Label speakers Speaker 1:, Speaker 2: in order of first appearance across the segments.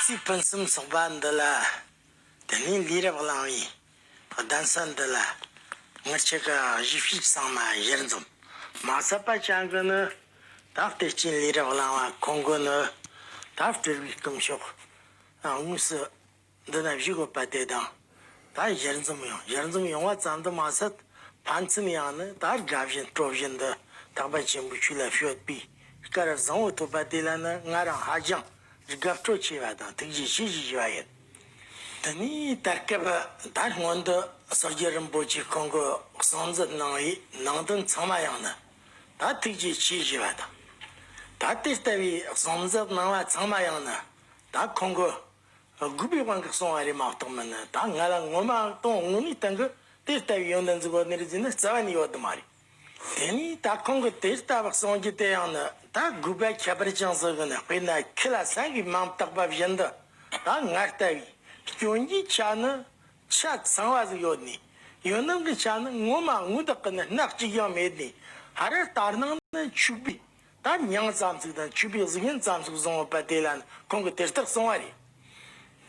Speaker 1: ཚིག་ཕུན་སུམ་ཚོགས་པ་འདི་ལ་དེ་ནས་ལུས་རབ་བླང་བའི་གདན་ས་འདི་ལ་ངར་ཆེ་ག་བཞི་བཤིག་གསང་མ་གཞིར་འཛོམས། མ་ཟབ་པ་བྱ་དགོས་ནི། དག་དེ་བསྐྱིན་ལས་རབ་བླང་བ་གོ་དགོས་ནི། དག་སྤྲུལ་བའི་སྟོང་ཕྱོགས་དངོས་སུ་འདི་ན་བཞུགས་ཡོད་པ་དེ་དང་ད་གཞིར་འཛོམས་ཡོང་གཞིར་འཛོམས་ཡོང་བ་ཙམ་དུ་མ་ཟད་ཕན་ཚུན་ཡང་ནི་ད་དགའ་བཞིན་སྤྲོ་བཞིན་འདི་དག་པ་ཆེན་པོའི་ཆོས་ལ་ཤོད་པའི་སྐལ་བཟང་བོ་ཐོབ་པ་དེ་ལ་ནི་ང་རང་ཧ་ཅང་དགའ་སྤྲོ་ཆེ་བ་དང་ཐུགས་རྗེ་ཆེ་ཞེས་བཞེས་པ་ཡིན། དེ་ནས་དེར་སྐབས་དར་སྔོན་དུ་ཟུར་བརྒྱུད་རིན་པོ་ཆེ་ཁོང་གི་གསང་མཛོད་གནང་བའི་ནང་དོན་ཚང་མ་ཡང་ནི་ད་ཐུགས་རྗེ་ཆེ་ཞེས་པ་དང། ད་དེ་ལྟ་བུའི་གསང་མཛོད་གནང་བ་ཚང་མ་ཡང་ནི་ད་ཁོང་གི་རྒུད་པའི་དབང་གིས་གསུང་བ་རེད་མ་གཏོགས་མིན་ནི་ད་ང་ལ་ངོ་མ་གཏོང་དངོས་གནས་སྟེང་གི་དེ་ལྟ་བུའི་ཡོན་ཏན་གཙུག་ལག་ནས་རིག་འཛིན་ནི་རྩ་བ་ནས་ཡོད་དུ་མ་རེད། དེ་ནས་ད་ཁོང་གིས་དེ་ལྟ་བུ་གསུང་རྒྱུ་དེ་ཡང་ནི་ད་དགོས་པའི་ཁྱད་པར་ཅུང་ཟད་ཀྱང་མེད་དཔེར་ན་ཁྱི་ལ་ཟ་བའི་མིང་བཏགས་པ་བཞིན་དུ་ད་ང་ལྟ་བུའི་སྐྱོན་གྱི་ཆ་ནི་ཆ་ཚང་བ་ཟིག་ཡོད་ནས་ཡོད་སྣང་གི་ཆ་ནི་ངོ་མ་དངུལ་དག་གི་ནི་སྣག་གཅིག་ཀྱང་མེད་ནས་ཧ་རེ་ལྟར་སྣང་ནི་ཕྱུག་པའི་ད་མྱང་ཙམ་ཟིག་དང་ཕྱུག་པའི་གཟུགས་བརྙན་ཙམ་ཟིག་བཟུང་ཡོད་པ་དེ་ལ་ནི་ཁོང་གིས་དེ་ལྟར་གསུང་བ་རེད་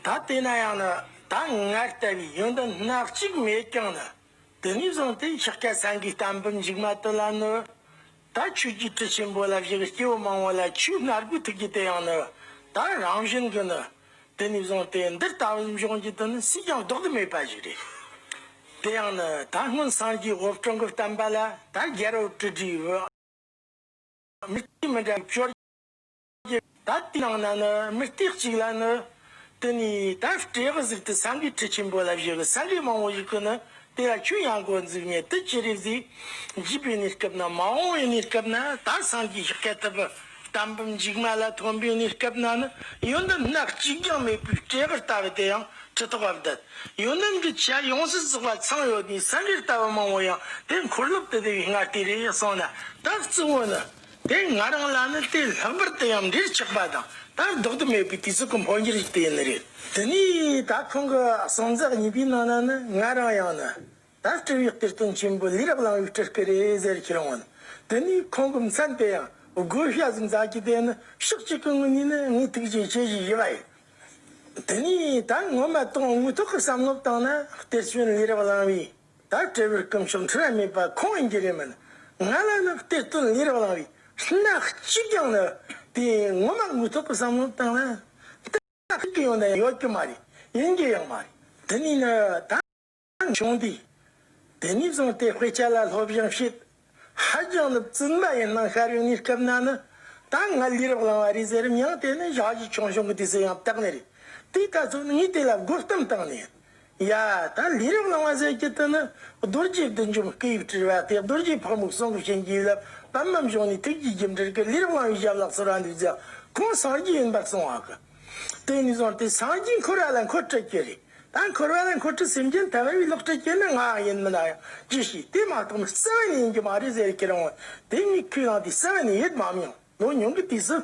Speaker 1: ད་དེ་ན་ཡང་ནི་ད་ང་ལྟ་བུའི་ཡོན་ཏན་སྣག་གཅིག་མེད་ཀྱང་ནི། དེ་ནས་བཟུང་སྟེ་འཁྱག་སྐད་ཟངས་ཀྱི་གཏམ་བུ་འཇིགས་མ་དོད་ལ་ནི། ད་ཁྱོད་ཀྱིས་དྲི་ཆེན་པོ་ལ་བཞག་སྐྱེ་བོ་མང་བོ་ལ་ཁྱོས་སྣར་སྒོའི་ཐུགས་ཀྱི་དེ་ཡང་ནི། ད་རང་བཞིན་གྱི་ནི། དེ་ནས་བཟུང་སྟེ་འདིར་ལྟ་བའི་འབྱུང་རྒྱུ་དེ་ནི་སུས་ཀྱང་བཟློག་ཏུ་མེད་པ་ཞིག་རེད། དེ་ཡང་ནི་ད་སྔོན་སངས་རྒྱས་ཧོར་སྤྲང་གིས་བསྟན་པ་ལ་ད་རྒྱལ་རོ་དྲི་དྲིས་བུ། མི་གཅིག་མི་འདྲ་བའི་སྐྱོར། ཀྱི་ད་ལྟའི་ནང་ན་ནི་མི་སྟེགས་གཅིག་ལ་ནི། དེ་ནས་ད་སྤྲེལ་གི་གཟུགས་དུ་སངས་རྒྱས་ཁྲི་ཆེན་པོ་ལ་བཞུགས་སངས་རྒྱས་མང་བོ་ཞིག་གིས་ནི་དེ་ལ་ཁྱོད་ཡང་གོ་འཛུགས་ནས་དུས་ཅི་རིགས་ཟིག། འཇིག་པའི་གནས་སྐབས་ན་མ་འོངས་པའི་གནས་སྐབས་ན་ད་སངས་རྒྱས་ཤིག་སྐལ་ཐུབ། དམ་བུ་འཇིགས་མ་ལ་ཐོན་པའི་གནས་སྐབས་ན་ནི་ཡོན་ཏན་སྣ་གཅིག་ཀྱང་མེད་པའི་སྤྲེལ་གར་ལྟ་བུ་དེ་ཡང་ཁྲི་ཐོག་པ་འདི། ཡོན་ཏན་གྱི་ཆ་ཡོངས་སུ་རྫོགས་པ་ཚང་ཡོད་ནས་སངས་རྒྱས་ལྟ་བུ་མང་བོ་ཡང་དེ་འཁོར་ལོ་དེ་དེ་བས་སྔར་དེ་རེད་གསུངས་ན་ད་གཙོ་བོ་ནི། དེ་ང་རང་ལ་ནི་དེ་ལྷག་པར་དུ་ཡང་འདྲིར་ཆགས་པ་དང་དང་ལྡོག་ཏུ་མེད་པའི་དུས་ཚོད་ཀྱི་འཕོ་འགྱུར་ཞིག་དེ་ནི་རེད། དེ་ནས་ད་ཁོང་གི་གསང་རྫག་གཉིས་པའི་ནང་ན་ནི་ང་རང་ཡང་ནི། ད་སྤྲུལ་བའི་གཏེར་སྟོན་ཆེན་པོ་ལི་རག་གླང་བའི་སྤྲུལ་སྐུ་རེད་ཟེར་ཁས་ལེན་ངོ། དེ་ནས་ཁོང་གི་མཚན་དེ་ཡང་དགོས་ཤ་ཟིག་འཛག་གི་དེ་ནི་ཕྱོགས་གཅིག་གི་ངོས་ནས་ནི་ངས་ཐུགས་རྗེ་ཆེ་ཞེས་བཞེས་པ་ཡིན། དེ་ནས་ད་ངོ་མ་གཏོགས་དངོས་ཐོག་གི་བསམ་བློ་བཏང་ན་གཏེར་སྟོན་ལི་རག་གླང་བའི། བདག་དྲེ་བར་སྐུ་མཆོག་འཁྲུལ་བ་མེད་པ་ཁོང་ཡིན་གྱི་རེད་མོད། ང་ལ་ནི་དཔེ་སྟོན་ལས་རང་རང་བའི་སྣ་གཅིག་ཀྱང་ནི་དེ་ངོ་མ་དངོས་ཐོག་གི་བསམ་བློ་བཏང་ན། དེ་ལ་ཕན་ཡོང་དང་ཡོད་ཀྱི་མ་རེད་ཡིན་གྱི་ཡང་མ་རེད། དེ་ནས་ནི་ད་ངས་བྱུང་དུས་དེ་ནས་བཟུང་སྟེ་དཔེ་ཆ་ལ་སློབ་སྦྱོང་བྱེད། ཧ་ཅང་ནི་བཙུན་པ་ཡིན་སྣང་ཤར་ཡོང་ནས་སྐབས་ན་ནི། ད་ང་ལུས་རབ་བླངས་བ་རེད་ཟེར་རིམ་ཡང་དེ་ནི་ཞག་གཅིག་ཆུང་ཞིང་གི་དུས་ཚོད་ཡང་དག་ནི་རེད། དེའི་ཐ་ཚུགས་ནི་ངས་དེ་ལ་རྒོལ་གཏམ་བཏང་ནས། ཡ། ད་ལུས་རབ་བླངས་བ་ཟེར་གྱི་དེ་ནི་རྡོ་རྗེ་བདུད་འཇོམས་སྐུ་དབྱིབས་བྲིས་པ་དེ་རྡོ་རྗེ་ཕག་མོ་གསུང་གི་བྱིན་གྱིས་བརླབས་བམ་མམ་གཞུང་ནས་ཐུགས་ཀྱི་རྒྱུ་འབྲས་ཀྱི་ལུས་རབ་བླངས་བའི་ཞབས་ལག་ཟེར་བ་འདུག་ཀྱང་ཁོང་སངས་རྒྱས་ཡིན་པར་གསུང་བ་གི། དེ་ནས་བཟུང་སྟེ་སངས་རྒྱས་འཁོར་བ་ལ་འཁོར་སྤྲུལ་བསྐྱེད་རེ་ད་འཁོར་བ་ལ་འཁོར་སྤྲུལ་སེམས་ཅན་ཐམས་ཅད་ལ་ལོག་སྤྲུལ་བསྐྱེད་ན་ང་ཡིན་མིན་ལ་ཡང་རྒྱུ་ཞིག་དེ་མ་གཏོགས་མི་གསལ་བ་ནས་ཡིན་གྱི་མ་རེད་ཟེར་ཁྱེད་རང་ངོ་དེ་གཉིས་ཁས་བླངས་ཏེ་གསལ་བ་ནས་ཡོད་མ་མི་ཡོང་ནོ་མྱོང་གི་དུས་སུ།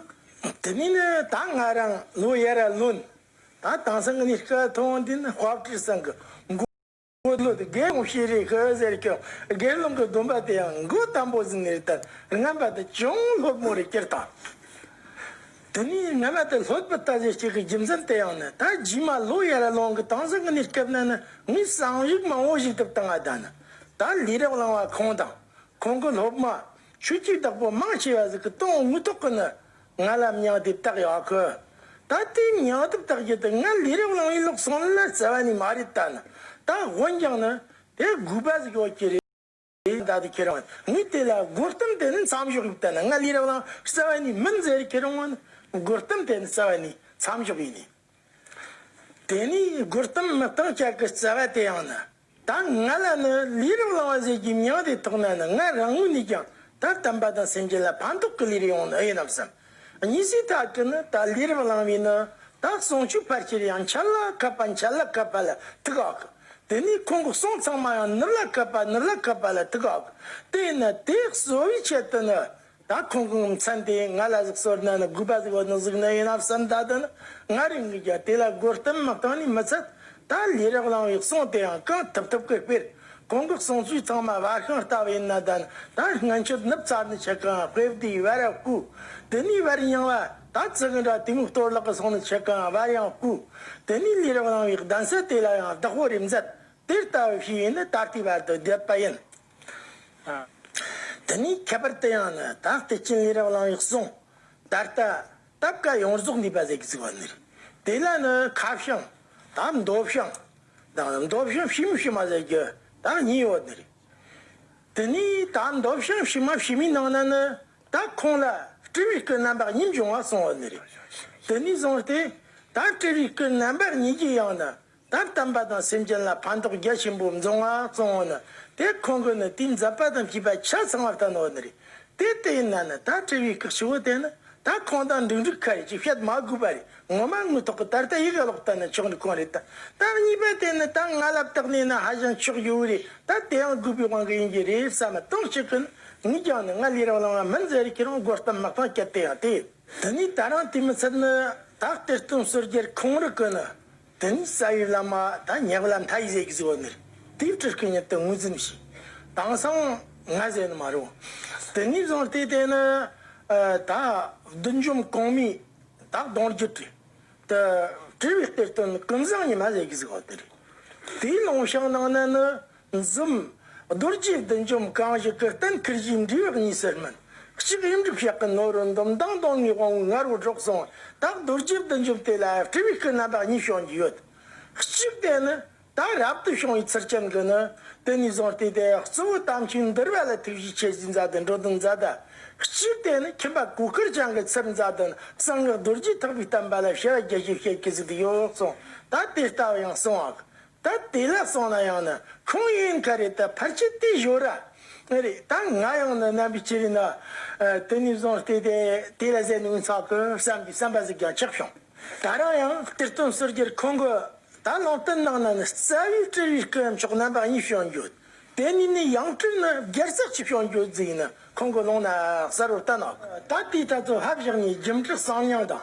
Speaker 1: དེ་ནས་ནི་ད་ང་རང་ལོ་ཡར་ལོན། ད་དེང་སང་གི་ནས་སྐལ་ཐོག་འདི་ནི་དཔའ་བཀྲིས་སང་གི་མགོ། དངོས་གཙོ་དེ་དགེ་སློང་ཤེས་རིག་གིས་ཟེར་ཀྱང་དགེ་སློང་གི་སྡོམ་པ་དེའང་མགོ་དམ་པོ་ཟིན་ནས་དེར་རྔམ་པ་དང་ཅུང་ལྷོད་མོ་རེ་སྐྱེར་དང། དེ་ནས་རྔ་མ་དང་ལྷོད་པོ་ལྟ་བུའི་གཅིག་གི་རྒྱུ་མཚན་དེའང་ནི་ད་རྗེས་མ་ལོ་ཡར་ཀླུང་གི་དྭངས་གསལ་གྱི་གནས་སྐབས་ན་ནི་ངའི་བསམ་ཡིག་མང་བོ་ཞིག་དུབ་དང་ལྡན། ད་ལས་རབ་བླང་བ་ཁོང་དང། ཁོང་གི་སློབ་མ། ཆོས་སྐྱིད་བདག་པོ་མང་ཆེ་བ་ཟིག་གི་སྟོང་དངུལ་ཐོག་གི་ནི། ང་ལ་མྱང་དེབ་བཏགས་ཡག་གི། ད་ལྟའི་མྱང་དེབ་བཏགས་རྒྱུ་དེ་ང་ལས་རབ་གླང་བའི་ལུགས་སྲང་ལ་བརྩེ་བ་ནི་མ་རེད་ད་ནི་ད་དགོན་རྒྱང་ནི་དེ་དགོས་པ་ཟིག་ཡོད་ཀྱི་རེད་ད་ལྟའི་ཁྱེད་རང་ངའི་དེ་ལ་དགོད་གཏམ་དེ་ནི་མཚམས་ཞོག་གི་ད་ནི་ང་ལས་རབ་གླང་བརྩེ་བ་ནི་མིན་ཟེར་ཁྱེད་རང་ངོ་ནི་དགོད་གཏམ་དེ་ནི་བརྩེ་བ་ནི་མཚམས་ཞོག་གི་ཡིན་ནི། དེ་ནས་སྒོར་གཏམ་མི་གཏོང་ཅག་གི་བརྩེ་བ་དེ་ཡང་ནི། ད་ང་ལ་ནི་ལུས་རིང་བླང་བ་ཟེར་རྒྱུའི་མྱང་འདས་ཐོག་ན་ནི་ང་རང་ངོས་ནས་ཀྱང་ད་དམ་པ་དང་སེམས་ཅན་ལ་ཕན་ཐོགས་ཀྱི་ལུས་རིང་བོ་ནི་ཨེ་ཡིན་ནམ་བསམ། གཉིས་སུ་དག་གིས་ནི་ད་ལུས་རིང་བླང་བས་ནི་ད་གསུང་ཆོས་ཕར་ཆེར་ཡང་འཆལ་ལ་ཁད་པ་འཆལ་ལ་ཁད་པ་ལ་ཐུག་ཨ་ཁུ། དེ་ནས་ཁོང་གི་གསུང་ཚང་མ་ཡང་ནུབ་ལ་ཁད་པ་ནུབ་ལ་ཁད་པ་ལ་ཐུག་ཨ་ཁུ། དེས་ནི་དེ་གསོ་བའི་ཆེད་དུ་ནི་ད་ཁོང་གི་ངོ་མཚན་དེ་ང་ལ་གཟིགས་སོར་གནང་ན་དགོས་པ་ཟིག་འོ་ན་གཟིགས་ན་ཡིན་ན་བསམ་ད་དུང་ང་རེ་ངུས་ཀྱང་དེ་ལ་རྒོལ་གཏམ་མ་བཏང་ནས་མི་ཚད་ད་ལས་རག་ལང་བའི་གསུང་དེ་ཡང་གང་ཐུབ་ཐུབ་ཀི་སྤེལ་ཁོང་གི་གསུང་ཚུལ་ཚང་མ་བ་ཤང་ལྟ་བུ་ཡིན་ན་ད་ནི་ད་སྔ་འཁྱུད་ནུབ་ཚ་ནི་ཆེ་གང་དཔེ་བདེ་བ་ར་བཀུ་དེ་ནས་བར་ཡང་བ་ད་ཙི་གི་འདྲ་དེ་མིག་གཏོར་ལག་གི་གསུང་ནི་ཆེ་གང་བ་ཡང་བཀུ་དེ་ནས་ལས་རག་ལང་བའི་གདན་སའི་དེ་ལ་ཡང་བདག་པོ་རེ་མཛད་དེ་ལྟ་བུ་ཞིག་ཡིན་ནི་ད་ལྟའི་བར་དུ་བསྡད་པ་ཡིན། དེ་ནས་ཁྱད་པར་དུ་ཡང་ན་བདག་བདེ་ཆེན་ལས་རབ་བླང་བའི་གསུང། ད་ལྟ་སྟབས་བཀའ་ཡོངས་རྫོགས་འདུས་པ་ཟད་ཀྱི་ཚིག་པར་ནུས། དེ་ལ་ནི་ཁ་བྱང། དང་མདོ་བྱང། དང་ནི་མདོ་བྱང་ཕྱི་མ་ཕྱི་མ་ཟད་ཀྱི་དང་གཉིས་ཡོད་ནི། དེ་ནས་དང་མདོ་བྱང་ཕྱི་མ་ཕྱི་མའི་ནང་ན་ནི་དང་ཁོང་ལ་སྤྲུལ་བའི་སྐུ་རྣམ་པར་གཉིས་འབྱུང་བ་གསུང་བ་ནི། དེ་ནས་བཟུང་སྟེ་དང་སྤྲུལ་བའི་སྐུ་རྣམ་པར་གཉིས་ཀྱི་ཡང་ན་ད་དམ་པ་དང་སེམས་ཅན་ལ་ཕན་ཐོགས་རྒྱ་ཆེན་པོ་འབྱུང་བ་གཙང་བོ་ནི་དེ་ཁོང་གི་ནི་དུས་འཛད་པ་དང་བཅས་པ་ཆ་ཚང་བར་ལྟ་ནོར་ནི་རེད་དེ་དེ་ཡིན་ན་ནི་ད་དྲི་བའི་སྐག་ཆུ་བོ་དེ་ནི་ད་ཁོང་དང་འགྲིག་འགྲིག་ཁ་རེད་ཅེས་བཤད་མ་དགོས་པ་རེད་ངོ་མ་དངོས་ཐོག་གི་ད་ལྟ་ཡིག་ཀློག་ལྟ་ནི་ཆོག་འདུག་གང་རེད་ད་ལྟ་གཉིས་པ་དེ་ནི་ད་ང་ལ་བརྟགས་ནས་ནི་ཧ་ཅང་ཆོག་ཡོད་རེད་ད་དེ་ཡང་དགོས་པའི་དབང་གིས་ཡིན་གྱི་རེད་བསམ་མི་གཏོང་ཞིག་གི་ནི་ངས་ཀྱང་ནི་ང་ལས་རང་བླངས་བ་མིན་ཟེར་རིགས་ཁྱེད་རང་རྒོལ་གཏམ་མ་གཏང་ཀྱ་དེ་ཡང་དེ་ཡིན་དེ་ནས་ད་རང་དུས་མི་ཚད་ནི་ད་གཏེར་སྟོན་ཟུར་རྒྱལ་ཁོང་རིགས་གི་ནི་དེ་ནས་རྩ་བའི་བླ་མ་དང་ཉེ་བར་ལ་མཐའ་ཡས་ཀྱི་གཟིགས་པ་མེད། དེའི་ཁྲིར་སྐུ་ཉིད་དུ་ངོས་འཛིན་མི་བྱེད། དྭངས་སང་ང་ཟེར་ནི་མ་རུང། དེ་ནས་བཟུང་སྟེ་དེ་ནི། ད་བདུད་འཇོམས་གང་མི་དག་གདོང་བརྒྱུད་དྲི། དུ་དྲི་བའི་གཏེར་སྟོན་ཀུན་བཟང་ཉི་མ་ཟས་ཀྱི་གཟིགས་པ་དེ་རེད། དེའི་ནང་བཤགས་གནང་ན་ནི་འཛུམ། རྡོ་རྗེའི་བདུད་འཇོམས་གང་བཞི་ཀུན་བསྟན་ཁུར་བཞེས་འབྲས་བུ་གཉིས་སུ་སྨིན། གཅིག་དབྱིངས་སྒྲུབ་ཞག་གི་ནོར་བུ་འདོམ་མདངས་གདོང་ལྔའི་དབང་བོའི་ངར་བུ་སྒྲོག་གསུང་དག་རྡོ་རྗེའི་བདུད་འཇོམས་དེ་ལ་སྤྲུལ་བའི་སྐུ་རྣམ་པ་གཉིས་བྱུང་རྒྱུ་ཡོད། གཅིག་དེ་ནི་ད་རབ་ཏུ་བྱུང་བའི་ཚུལ་ཅན་གྱི་ནི་དེ་ནས་བཟུང་སྟེ་དེ་གཙོ་བོའི་དམ་ཆོས་འདུལ་བ་ལ་ཐུགས་རྗེ་ཆེ་བཞིའི་མཛད་དུ་འགྲོ་དོན་མཛད་དུ། གཅིག་དེ་ནི་ཁྱིམ་པ་གོས་སྐུར་བྱང་གི་ཚུལ་མཛད་དུ་གསང་སྔགས་རྡོ་རྗེ་ཐེག་པའི་བསྟན་པ་ལ་བྱ་བ་རྒྱ་ཆེར་བྱེད་ཀྱི་གཟིགས་ཀྱི་ཡོད་གསུང་དག་དེ་ལྟ་བུ་ཡང་གསང་བ་ད་དེ་ལ་སོང་ན་ཡང་ནི་ཁུང་ཡིན་ག་རེད་ད་ཕར་ཆེ་ལྟས་བཞོ་ར་རེད་ད་ང་ཡང་ནི་རྣམ་པའི་ཆེ་རིན་ན་དེ་ནས་བཟུང་སྟེ་དེ་དེ་ལ་ཟད་ནས་འུ་ཚང་གི་བསམ་པའི་བསམ་པ་ཟིག་ཀྱང་ཆགས་བྱུང་ད་རང་ཡང་གཏེར་སྟོན་བསོད་རྒྱལ་ཁོང་གི་ད་ལོང་སྟོན་ནང་ན་ནི་རྩ་བའི་དྲི་བའི་སྐུ་ཡང་མཆོག་རྣམ་པ་གཉིས་བྱོན་ཡོད་དེ་ནས་ནི་ཡང་སྤྲུལ་ནི་རྒྱལ་བསགས་ཀྱི་བྱོན་ཡོད་རྫིག་ནི་ཁོང་གི་ལུང་ནའང་གསར་བུ་རྟ་ནག་གི་ད་དེའི་ད་ཚོ་ཧབ་བཞག་ནས་རྒྱུ་འབྲས་གསང་མྱང་དང་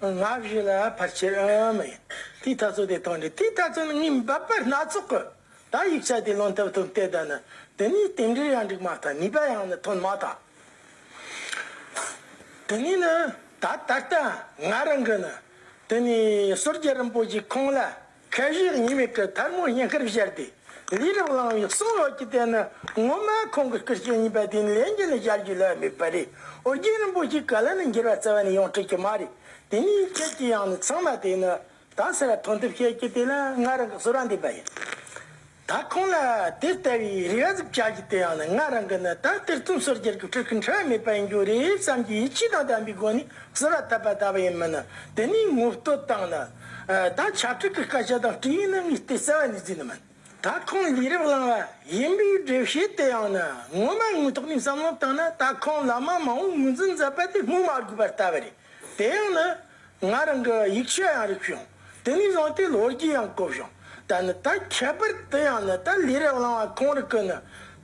Speaker 1: སྔགས་བཞི་ལ་ཕར་ཆེར་མི་ཡིན། དེའི་ཐ་ཚུལ་དེ་དང་འདྲེས་དེའི་ཐ་ཚུལ་ནི་ངའི་འབབ་པ་སྣ་ཚོགས་ཀྱི་དག་ཡིག་ཆ་དེ་ལོན་ཐབས་ཐུབ་དེ་དག་ནི་དེ་ནས་དེ་འདྲའི་ཡང་འགྲིག་མ་ཐག་ནུས་པ་ཡང་ནི་ཐོན་མ་ཐག་དེ་ནས་ནི་ད་ད་ལྟ་ང་རང་གིས་ནི་དེ་ནས་ཟུར་རྒྱལ་རིན་པོ་ཆེ་ཁོང་ལ། ཁལ་བཞི་ཉི་མའི་སྐུ་དར་མོ་སྙིང་ཁར་བཞེར་ཏེ་ལས་རབ་བླངས་པའི་གསུང་ལོགས་ཀྱི་རྟེན་ནི་ངོ་མ་ཁོང་གི་སྐུ་སྐྱེ་གཉིས་པ་དེ་ནི་ལས་འགན་ལ་བཞག་རྒྱུ་ལ་དམིགས་པ་རེད་ཨོ་རྒྱན་རིན་པོ་ཆེའི་བཀའ་ལ་ནི་འགྱུར་བ་རྩ་བ་ནས་ཡོང་འཁྲིད་ཀྱི་མ་རེད་དེ་ནས་ཁྱེད་ཀྱི་ཡང་ནི་ཚང་མ་དེ་ནི་དང་ཟེར་བ་མཐོང་ཐུབ་ཁྱེད་ཀྱི་དེ་ལ་ང་རང་གི་ཟུར་བ་འདེབས་པ་ཡིན། ད་ཁོང་ལ་དེ་ལྟ་བུའི་རེ་བ་ཟིག་བྱ་རྒྱུ་དེ་ཡང་ན་ང་རང་གིས་ནི་ད་སྟེར་རྩོམ་སོགས་སྒྱུར་གྱི་ཕྲུ་གུ་འཕྲི་བ་མེད་པ་ཡིན་རྒྱུ་རེད་བསམ་གྱི་ཡིད་ཆེས་དང་ལྡན་པའི་སྒོ་ནས་ཟུར་བ་ཐབས་པ་ད་བ་ཡིན་མིན་ནི་དེ་ནས་ངོ་སྤྲོད་བཏང་ན། ད་བྱ་ཕྲུག་གི་སྐད་ཆ་དང་སྤྲེའུའི་སྣུམ་གྱི་ལྟས་གསལ་བ་ནས་བརྫིས་ནི་མིན། ད་ཁོང་ལས་རབས་བླངས་བ་ཡིན་པའི་སྒྲུབ་བྱེད་དེ་ཡང་ན་ངོ་མ་དངོས་ཐོག་ནས་བསམ་བློ་བཏང་ན་ད་ཁོང་ལ་མ་མང་བོ་ངོས་འཛིན་མཛད་པ་དེ་སྨོས་མ་དགོས་པར་ལྟ་བ་རེད་དེ་ཡང་ན། ང་རང་གི་ཡིག་ཆ་ཡང་རིག་བྱུང། དེ་ནས་བཟུང་སྟེ་ལོ་རྒྱུས་ཡང་གོ་བྱུང། ད་ནི་ད་ཁྱད་པར་དུ་ཡང་ནི་ད་ལས་རབས་བླང་བ་གང་རིགས་ཀྱི་ནི།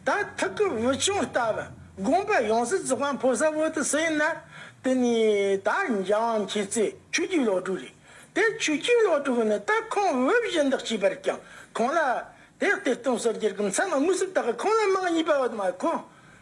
Speaker 1: ད་ཐུགས་ཀྱི་བུ་ཆུང་ལྟ་བུ་དགོངས་པ་ཡོངས་སུ་རྫོགས་པ་འཕོ་ས་བོ་དུ་སུ་ཡིན་ན། དེ་ནི་ད་འཇམ་དབྱངས་མཁྱེན་བརྩེ་ཆོས་རྒྱུད་བློ་གྲོས་རེད། དེ་ཆོས་རྒྱུད་བློ་གྲོས་ནི་ད་ཁོང་དབུ་བཞི་འདེགས་བྱས་པར་ཀྱང་ཁོང་ལ། དེ་གཏེར་སྟོན་ཟུར་བརྒྱར་གྱི་མཚན་མ་དངོས་གཟུགས་དག་གི་ཁོང་ལ་མིང་གཉིས་པ་བ་དུ་མ་ཁོང།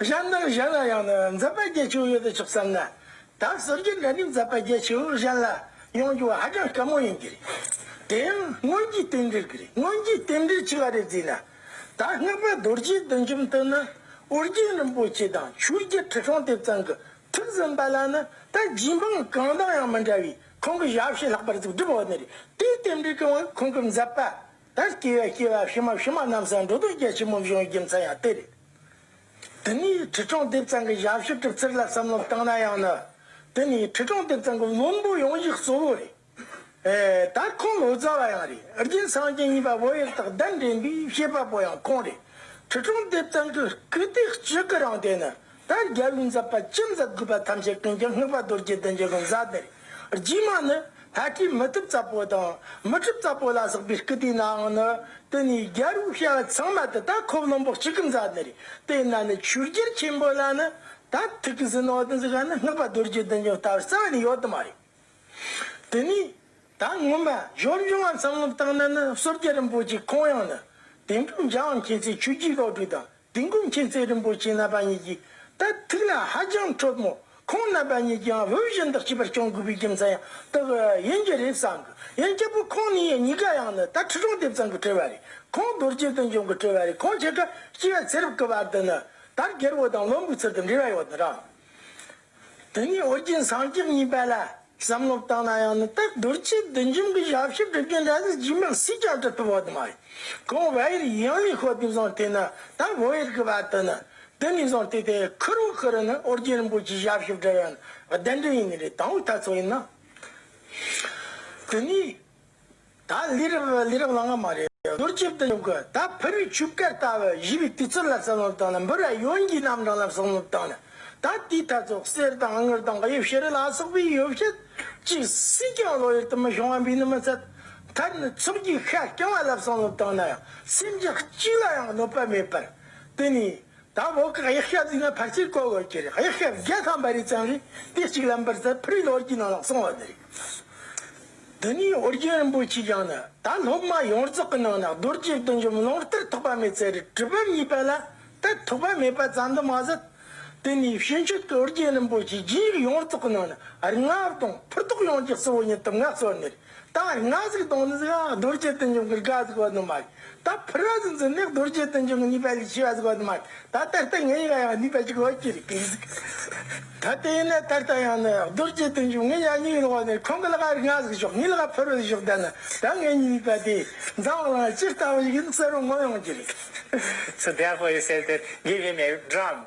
Speaker 1: གཞན་དོན་གཞན་ལ་ཡང་ནི་འཛད་པ་བརྒྱད་བྱུང་ཡོད་དུ་ཆུག་བསམ་ན། ད་གསོལ་རྒྱུ་འདྲ་རིགས་འཛད་པ་བརྒྱད་བྱུང་ལུགས་གཞན་ལ་ཡོང་རྒྱུ་བ་ཧ་ཅང་དཀའ་མོ་ཡིན་གྱི་རེད། དེ་ཡང་སྔོན་གྱི་རྟེན་འབྲེལ་གྱི་རེད་སྔོན་གྱི་རྟེན་འབྲེལ་ཆེ་བ་རེ་བརྩིས་ན། ད་སྔགས་པ་རྡོ་རྗེའི་བདུད་འཇོམས་དུ་ནི་ཨོ་རྒྱན་རིན་པོ་ཆེ་དང་ཆོས་རྒྱལ་ཁྲི་སྲོང་ལྡེབ་ཙམ་གྱི་ཐུགས་གསུངས་པ་ལ་ནི་ད་རྗེ་འབངས་གང་དང་ཡང་མི་འདྲ་བའི་ཁོང་གི་ཞབས་ཕྱི་ལྷག་པར་གཟུགས་སྒྲིབ་འོག་ནས་རེད་དེའི་རྟེན་འབྲེལ་གྱི་དབང་གིས་ཁོང་གི་འཛད་པ་དང་སྐྱེ་བའི་སྐྱེ་བ་ཕྱི་མ་ཕྱི་མ་རྣམས་སུ་འགྲོ་དོན་རྒྱ་ཆེན་མོ་བྱུང་བའི་རྒྱུ་མཚན་ཡང་དེ་རེད། དེ་ནས་ཁྲི་སྐྱོང་ལྡེབ་ཚང་གི་ཞབས་ཞུ་གྲུབ་རྩིར་ལ་བསམ་བློ་བཏང་ན་ཡང་ནི་དེ་ནི་ཁྲི་སྐྱོང་ལྡེབ་ཚང་གི་དངོས་པོ་ཡོང་གཞི་གཙོ་བོ་རེད། ད་ཁོང་ལོ་ཙཱ་བ་ཡང་རེད་རྒྱུན་བསང་ཅན་ཡིན་པ་བོད་ཡིག་དག་བདམས་འདྲེན་པའི་ཤེས་པ་པོ་ཡང་ཁོང་རེད། ཁྲི་སྐྱོང་ལྡེབ་ཚང་གི་སྐུ་དེ་སྤྱི་སྐུ་རང་དེ་ནི་ད་རྒྱལ་བོའི་མཛད་པ་ཅི་མཛད་དགོས་པ་ཐམས་ཅད་ཀུན་གྱི་སྔགས་པ་རྡོ་རྗེ་གདན་གྱི་གི་མཛད་དེ་རེད། རྗེས་མ་ནི་ད་ལྟའི་མི་གྲུབ་ཙམ་པོ་དང་མི་གྲུབ་ཙམ་པོ་ལ་སོགས་པའི་སྐུ་དེ་ནའང་ནི་དེ་ནི་རྒྱལ་པོའི་ཤ་བ་ཚང་མ་དེ་དག་ཁོབ་ལོང་པོ་གཅིག་གི་མཛའ་ནི་རེད་དེ་ན་ནི་ཆོས་རྒྱལ་ཆེན་པོ་ལ་ནི་ད་ཐུག་གི་ཟིན་ནོ་དང་ཟེར་ག་ནི་སྔགས་པ་རྡོ་རྗེ་བདུན་ཀྱང་ལྟ་བར་རྩ་བ་ནས་ཡོད་དུ་མ་རེད། དེ་ནས་ད་སྔོན་མ་གཞོན་བྱུང་བ་ཚང་མ་བཏང་ན་ནི་བསོད་རྒྱལ་རིན་པོ་ཆེ་ཁོང་ཡང་ནི་དེང་དུས་འཇའ་འམ་མཁྱེན་བརྩེའི་ཆོས་རྒྱུད་སློབ་ཕྲུག་དང། དེང་ཀུན་མཁྱེན་བརྩེ་རིན་པོ་ཆེ་རྣམ་པ་གཉིས་ཀྱི་དེ་ཐུགས་ལ་ཧ་ཅང་འཕྲོད་མོད་ཁོང་རྣམ་པ་གཉིས་ཀྱིའང་བོད་གཞུང་དག་བྱེད་པར་སྐྱོང་དགོས་པའི་རྒྱུ་མཚན་ཡང་དག་ཡིན་གྱི་རེད་བསམ་གི་ཡིན་སྐྱབས་པོ་ཁོང་ནི་ཡང་གཉིས་ཀ་ཡང་ནི་ད་ཁྲི་སྲོང་ལྡེབ་ཙམ་གྱི་གྲོལ་བ་རེད་ཁོང་རྡོ་རྗེ་སྟོན་འབྱུང་གི་གྲོལ་བ་རེད་ཁོང་ཁྱེད་ཀྱི་སྐྱེ་བའི་ཚེ་རབས་ཀྱི་བར་དུ་ནི་ད་རྒྱལ་བོ་དང་བློན་པོའི་ཚུལ་དུ་འབྲེལ་བ་ཡོད་དོ་རང་དེ་ཉིད་ཨོ་རྒྱན་སངས་རྒྱས་གཉིས་པ་ལ་བསམ་བློ་བཏང་ན་ཡང་ནི་དེར་རྡོ་རྗེ་བདུད་འཇོམས་ཀྱི་ཞབས་ཕྱི་སྒྲུབ་རྒྱུ་འདྲ་ཟིག་རྗེས་མར་སུས་ཀྱང་བྲི་ཐུབ་བ་དུ་མ་ཡིན། ཁོང་བྷ་ཡེར་ཡིའང་ལས་ཤོག་དེ་བཟང་དེ་ནི་ད་བྷོ་ཡེར་གྱི་བར་དུ་ནི་དེ་ནས་བཟང་དེ་དེ་ཁུ་རུ་ཁུ་རུ་ནི་ཨོ་རྒྱན་རིན་པོ་ཆེའི་ཞབས་ཕྱི་བྲི་བ་ནི་བདེན་དོན་ཡིན་ནི་རེད་དང་བོའི་ལྟ་ཚུལ་ཡིན་ན། དེ་ནས། ད་ལི་རབ་ལི་རབ་ལང་ང་མ་རེད་ཟུར་ལྕིབ་ཏུ་ཉོབ་གི་ད་ཕ་རུས་ཆུ་བསྐལ་ལྟ་བུ་བཞི་པའི་དུས་ཚོད་ལ་བསམ་བློ་བཏང་ན་འབུ་ར་ཡོན་གྱི་རྣམ་གྲངས་ལ་བསམ་བློ་བཏང་ན་ད་ལྟའི་མཐའ་ཚོགས་གསེར་དང་དངུལ་དང་གཡུ་བྱི་རི་ལ་སོགས་པའི་ཡོ་བྱད་ཅིག་སུས་ཀྱང་བློ་ཡུལ་དུ་མི་ཤོང་བ་འབུས་ནི་མི་ཚད་མཐར་ནི་ཚོགས་ཀྱི་ཤ་རྐྱང་བ་ལ་བསམ་བློ་བཏང་ན་ཡང་སེམས་ཅན་གཅིག་ལ་ཡང་གནོད་པ་མེད་པར་དེ་ནས་དང་པོ་གཡག་ཞབས་བརྫིས་ན་ཕར་ཚུར་བཀོལ་དགོས་ཀྱི་རེད་གཡག་ཞབས་བརྒྱ་ཐམ་པ་རེ་བཅངས་ནས་དེ་གཅིག་ལམ་བར་ཙམ་ཕུར་ནོར་གྱི་ནང་ལ་སོང་བ་རེད། འདི་ནས་ཨོ་རྒྱན་རིན་པོ་ཆེས་ཀྱང་ནི་ད་སློབ་མ་ཡོངས་རྫོགས་ཀྱི་ནང་ན་རྡོ་རྗེ་བདུད་འཇོམས་ལོང་སྟེར་ཐོགས་པ་མེད་ཚེ་རི་གྲི་བུམ་གཉིས་པ་ལ་དེ་ཐོགས་པ་མེད་པ་ཙམ་དུ་མ་ཟད། དེ་ནས་ཕྱི་མཆོད་ཀྱི་ཨོ་རྒྱན་རིན་པོ་ཆེའི་རྒྱུན་ཡིག་ཡོངས་རྫོགས་ཀྱི་ནང་ན་རྔ་བ་དང་ཕུར་ཐོགས་ཡོངས་ཀྱི་གཙོ་བོ་ཉིད་དུ་མངའ་གསོལ་ནས་ད་ང་གཟིགས་གདོང་ནི་གཟིགས་ཨང་རྡོ་རྗེ་བསྟན་འབྱུང་གི་རྒ་གཟིགས་བ་དུ་མ་ཡིན། ད་ཕུ་ར་གཟིགས་འཛིན་ནི་རྡོ་རྗེ་བསྟན་འབྱུང་གི་ནུས་པ་ལས་ཆེ་བ་གཟིགས་བ་དུ་མ་ཡིན། ད་ད་ལྟ་ངའི་ཡང་ཡང་ནུས་པ་གཅིག་ལོ་གཅིག་རེ་གིས་གཟིགས། ད་དེ་ཡིན་ན་ད་ལྟ་ཡང་ནི་རྡོ་རྗེ་བསྟན་འབྱུང་ངའི་ཡང་སྙིང་ཡིན་འོ་ནི་ཁོང་གི་ལ་ག་རེ་ང་གཟིགས་ཤོག་ངའི་ལ་ག་ཕུ་རུ་གཟིགས་ཤོག་ད་ནི་ད་ངའི་ཉིད་ནུས་པ་དེ་འཛམ་བ་ལང་ཅི་ལྟ་བུ་ཞིག་ཡིན་གསལ་བོ་ངོ་ཡོང་གི་རེད། སུ་བདེ་
Speaker 2: ཨ་ཁོ་ཡི་གསེར་དེར་དགེ་བའི་མེ་རི་བསྒྲངས།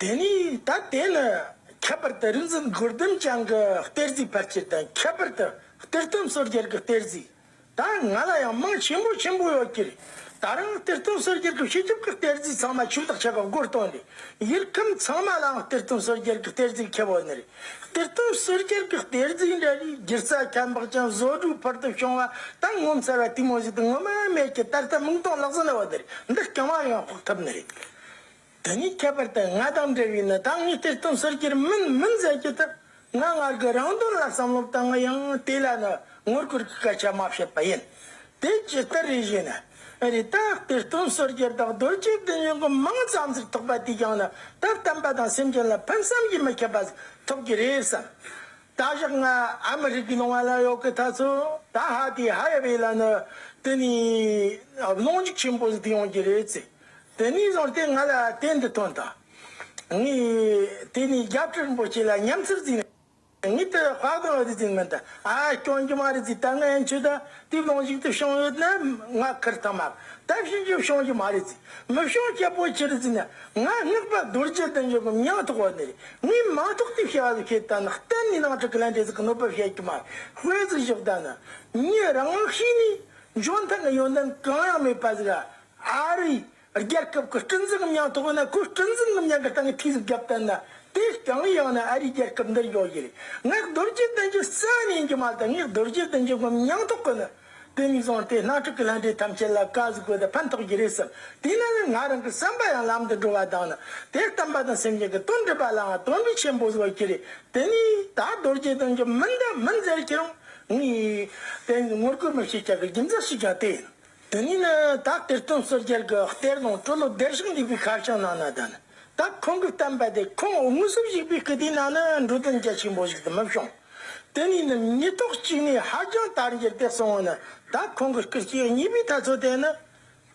Speaker 1: དེ་ནས་ད་དེ་ནི་ཁྱད་པར་དུ་རིག་འཛིན་གུར་ལྡིང་བྱང་གི་གཏེར་གཟིགས་ཕལ་ཆེར་དང་ཁྱད་པར་དུ་གཏེར་སྟོན་བསོད་རྒྱལ་གྱི་གཏེར་གཟིགས་དང་ང་ལ་ཡང་མིང་ཆེན་པོ་ཆེན་པོ་ཡོད་ཀྱིར་ད་རུང་གཏེར་སྟོན་བསོད་རྒྱལ་གྱི་བྱེད་ཐབས་ཀྱི་གཏེར་གཟིགས་ཚང་མ་ཕྱུག་བདག་ཆེ་ག་མགོར་བཏོན་ཏེ་ཡུལ་ཁམས་ཚང་མ་ལའང་གཏེར་སྟོན་བསོད་རྒྱལ་གྱི་གཏེར་གཟིགས་ཁྱེད་བོད་ནི་གཏེར་སྟོན་བསོད་རྒྱལ་གྱི་གཏེར་གཟིགས་འདྲ་བའི་སྒྱུ་རྩལ་ཁྱད་འཕགས་ཅན་བཟོ་སྒྲུབ་ཕུལ་དུ་བྱུང་བ་དང་ངོ་མཚར་བ་དུས་མ་བཞི་དང་ངོ་མ་མེད་ཀྱི་ད་ལྟ་མིག་མཐོང་ལག་ཟིན་ལ་བ་དེར་འདི་རྐྱང་བ་ཡང་དཔོག་ཐུབ་ནི་རེད། དེ་ནི་ཁྱད་པར་དུ་ང་དང་འབྲེལ་བའི་ནི་དྭངས་སྙིགས་ཐིག་སྟོང་ཟུར་གྱིར་མིན་མིན་བཟད་རྒྱུ་དེ་ང་སྔར་གྱི་རང་དོན་ལ་བསམ་བློ་བཏང་ང་ཡང་དེ་ལ་ནི་ངོ་རྒོལ་གྱི་སྐད་ཆ་མ་བཤད་པ་ཡིན། དེ་ཇི་ལྟར་རེད་ཞེ་ན། རེད་ད་ལྟའི་སྟོང་ཟུར་གྱི་བདག་རྡོ་རྗེ་བདུད་སྙིང་གི་མིང་ཙམ་ཟིག་ཐོགས་པ་དེས་ཀྱང་ནི་ད་བསྟན་པ་དང་སེམས་ཅན་ལ་ཕན་བསམ་གྱིས་མི་ཁྱབ་པ་ཟིག་ཐོབ་ཀྱི་རེད་བསམ། ད་བཞག་ང་ཨ་མི་རི་ཀའི་ནང་བ་ལ་ཡོད་གི་ད་ཚོ་ད་ཧ་དེ་ཧ་ཡ་བའི་ལ་ནི་དེ་ནི་གནོང་འཇུག་ཆེན་པོ་ཟིག་ཡོང་གྱི་རེད་ཟེར། དེ་ནས་བཟུང་སྟེ་ང་ལ་དེ་འདི་ཐོན་ཏོ། ངས་དེ་ནས་རྒྱབ་ཁྲིར་འབོད་ཆེད་ལ་ཉམས་སུ་བཟུང། ངས་དེ་ལ་བག་ལ་བཟུང་མིན་ཏེ། ཨ་ཨ་སྐྱོན་གྱི་མ་རེད་ཟིག་ད་ངའི་མཆུ་ད་དུས་གང་ཞིག་ཏུ་བྱུང་ཡོད་ན་ང་ཁུར་ཐུབ་མ་ད་ཕྱིན་ཆད་བྱུང་གི་མ་རེད་ཟིག་མི་བྱུང་ཁྱད་པོ་ཆེར་བཟོས་ན་ང་སྔགས་པ་རྡོ་རྗེ་དང་ཡོད་གམ་ཡང་ཐོག་བ་ནི་རེད་ངས་མ་ཐོག་དུས་བྱ་བ་ལ་ཁེལ་ད་ནི་གཏན་ནས་ནང་ཁྲི་ཀི་ལན་ཏེ་ཟིག་གནོད་པ་བྱེད་ཀྱི་མ་རེད་དཔེ་ཟིག་བཞག་ད་ནི་ངས་རང་དམག་བྱས་ནས་འཇོན་ཐང་གི་ཡོན་ཏན་གང་ཡང་མེད་པ་ཟིག་ཨ་ཨ་རིའི་རྒྱལ་ཁབ་ཀྱི་སྤྲིན་གཟིགས་ཉིང་ཐོག་ནས་ཁོའི་སྤྲིན་གཟིགས་ཉིང་ཡང་གི་སྟེང་ཐིག་གཟིགས་བརྒྱབ་བསྟན་ན་དེས་རྐྱང་ཡང་ནས་ཨ་རིའི་རྒྱལ་ཁབ་འདིར་ཡོད་ཀྱི་རེད་ངས་རྡོ་རྗེ་གདན་གྱི་གསན་ཡིན་གྱི་མ་དང་ངས་རྡོ་རྗེ་གདན་གྱི་སྒོམ་ཉིང་ཐོག་གི་ནི་དེ་གཉིས་བཟང་སྟེ་སྣ་ཁྲིད་ཀྱི་ལྷན་འབྲེལ་ཐམས་ཅད་ལ་བཀའ་གཟིགས་དགོས་དེ་ཕན་ཐོག་གྱི་རེད་བསམ་དེས་ན་ནི་ང་རང་གི་བསམ་པ་ཡང་ལམ་དུ་འགྲོ་བ་དང་ནི་དེ་བསྟན་པ་དང་སེམས་ཅན་གྱི་དོན་སྒྲུབ་པ་ལའང་དོན་འབྲས་ཆེན་པོ་བཟོ་གྱི་རེད་དེ་ནས་ད་རྡོ་རྗེ་གདན་གྱི་མི་འདི་མི་མཛད་ཀྱི་རང་ངས་དེ་ངོ་རྒོལ་མི་བྱེད་ཀྱི་རྒྱུ་མཚན་ཞིག་ཀྱང་དེ་ཡིན། དེ་ནས་ནི་བདག་གཏེར་སྟོན་བསོད་རྒྱལ་གྱི་གཏེར་ནང་སྤྲོ་ལོ་བདེར་གཤེགས་འདུས་པའི་ཁ་བྱང་ནང་ན་དང། བདག་ཁོང་གི་བསྟན་པ་དེ་ཁོང་དངོས་སུ་བཞུགས་པའི་སྐུ་དེའི་ནང་ན་འགྲོ་དོན་རྒྱ་ཆེན་པོ་ཞིག་ཏུ་མི་བྱུང། དེ་ནས་ནི་ཉིས་ཐོག་གཅིག་ནས་ཧ་ལྗང་དར་འགྱེལ་ཏེ་སོང་བ་ན་བདག་ཁོང་གི་སྐུ་སྐྱེ་གཉིས་པའི་ཐ་ཚོད་དེ་ནི།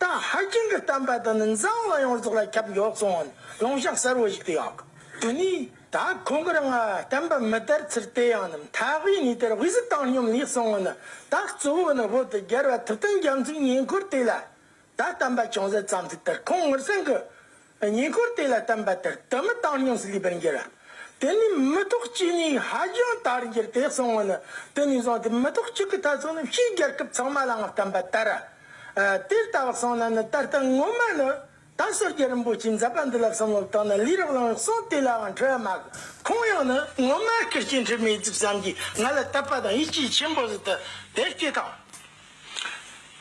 Speaker 1: བདག་ཧ་ལྗང་གི་བསྟན་པ་དེ་ནི་འཛམ་གླིང་ཡོངས་རྫོགས་ལ་ཁྱབ་མགྱོགས་སོང་བ་ནི་ལུང་བཤགས་གསལ་བོ་ཞིག་ཏུ་ཡང་དགོས། དེ་ནས། ད་ཁོང་གིར་ང་བསྟན་པ་མི་དར་ཚུལ་དེ་ཡང་ནམ་མཐའ་དབུས་ནས་དེར་དབུས་སུ་བཏང་སྙོམས་ལས་གསུང་ངོ་ནི་ད་གཙོ་བོ་ནི་བོད་དུ་རྒྱལ་བ་ཐུབ་བསྟན་རྒྱ་མཚོའི་ཉེ་འཁོར་དེ་ལ་ད་བསྟན་པ་ཅུང་ཟད་ཙམ་ཚུལ་དེར་ཁོང་ངུར་སེང་གི་ཉེ་འཁོར་དེ་ལ་བསྟན་པ་དེར་དུ་མི་བཏང་སྙོམས་སུ་ལུས་པར་འགྱུར་དེ་ནས་མི་ཐོག་གཅིག་ནས་ཧ་ལྗང་དར་འགྱུར་དེ་གསུང་ངོ་ནི་དེ་ནས་བཟུང་སྟེ་མི་ཐོག་གཅིག་གི་ཐ་ཚུགས་ནི་ཕྱིའི་རྒྱལ་ཁབ་ཚང་མ་ལའང་བསྟན་པ་དར་དེར་ལྟ་བར་སོང་ན་ནི་ད་ལྟ་ངོ་མ་ནི་རྟག་སོར་རྒྱལ་རིན་པོ་ཆེའི་མཛད་པ་འདི་ལ་བསམ་བློ་བཏང་ན་ལུས་རགས་ལངས་སོང་དེ་ལའང་ཁྲོ་བ་མ་གོ། ཁོང་ཡང་ནི་སྔོན་མ་ཀིར་སྐྱེས་འཁྲིད་མེད་རྩིབས་བསམ་གྱིས་ང་ལ་བསྟབས་པ་དང་ཡིད་ཆེས་ཆེན་པོ་བཟོས་ཏེ་དེར་སྐྱེས་དང།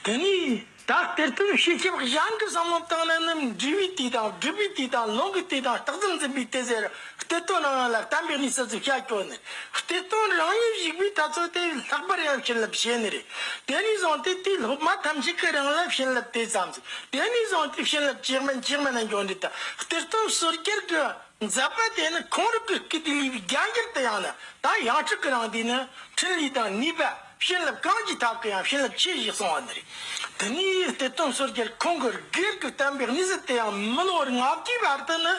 Speaker 1: དེ་ནས་བདག་གཏེར་སྟོན་བཤད་ཁྱབ་གཞན་གྱི་བསམ་བློ་བཏང་ན་ནི་འབྲི་བའི་དུས་དང་སྒྲུབ་པའི་དུས་དང་ལུང་གི་དུས་དང་རྟགས་ཙམ་འཛིན་པའི་དུས་ཟེར་གཏེར་སྟོན་ནང་ཡང་ལ་བསྟན་པའི་གནས་སུ་ཤར་ཕྱོགས་ནས་གཏེར་སྟོན་རང་ཉིད་བཞུགས་པའི་ཐབས་སོགས་དེ་བས་ལྷག་པར་ཡང་བྱིན་རླབས་བྱས་ནས་རེད། དེ་ནས་བཟུང་སྟེ་དུས་སློབ་མ་ཐམས་ཅད་ཀྱི་རང་ལ་བྱིན་རླབས་དེ་ཙམ་དེ་ནས་བཟུང་སྟེ་བྱིན་རླབས་གཅིག་མིན་གཅིག་མིན་ལ་འབྱུང་འདི་ལྟ་སྟེ་སྟོན་གསོལ་རྒྱལ་གྱི་མཛད་པ་དེ་ནི་གང་རིགས་ཀྱི་སྐད་དུ་ལུས་པའི་རྒྱ་འགྱུར་དུ་ཡང་ན་ད་ཡང་ཁྲིགས་ཀྱི་རང་དུས་ནི་ཕྲིན་ལས་དང་ནུས་པ་བྱིན་རླབས་གང་ཅིའི་ཐབས་ཀྱི་ཡང་བྱིན་རླབས་ཆེ་ཞེས་གསུང་བ་འདི་རེད། དེ་ནས་སྟེ་སྟོན་གསོལ་རྒྱལ་ཁོང་གི་སྒེར་གྱི་བསྟན་པའི་གནས་གཟིགས་དེ་ཡང་མི་ལོ་བར་ལྔ་བརྒྱའི་བར་དུ་ནི་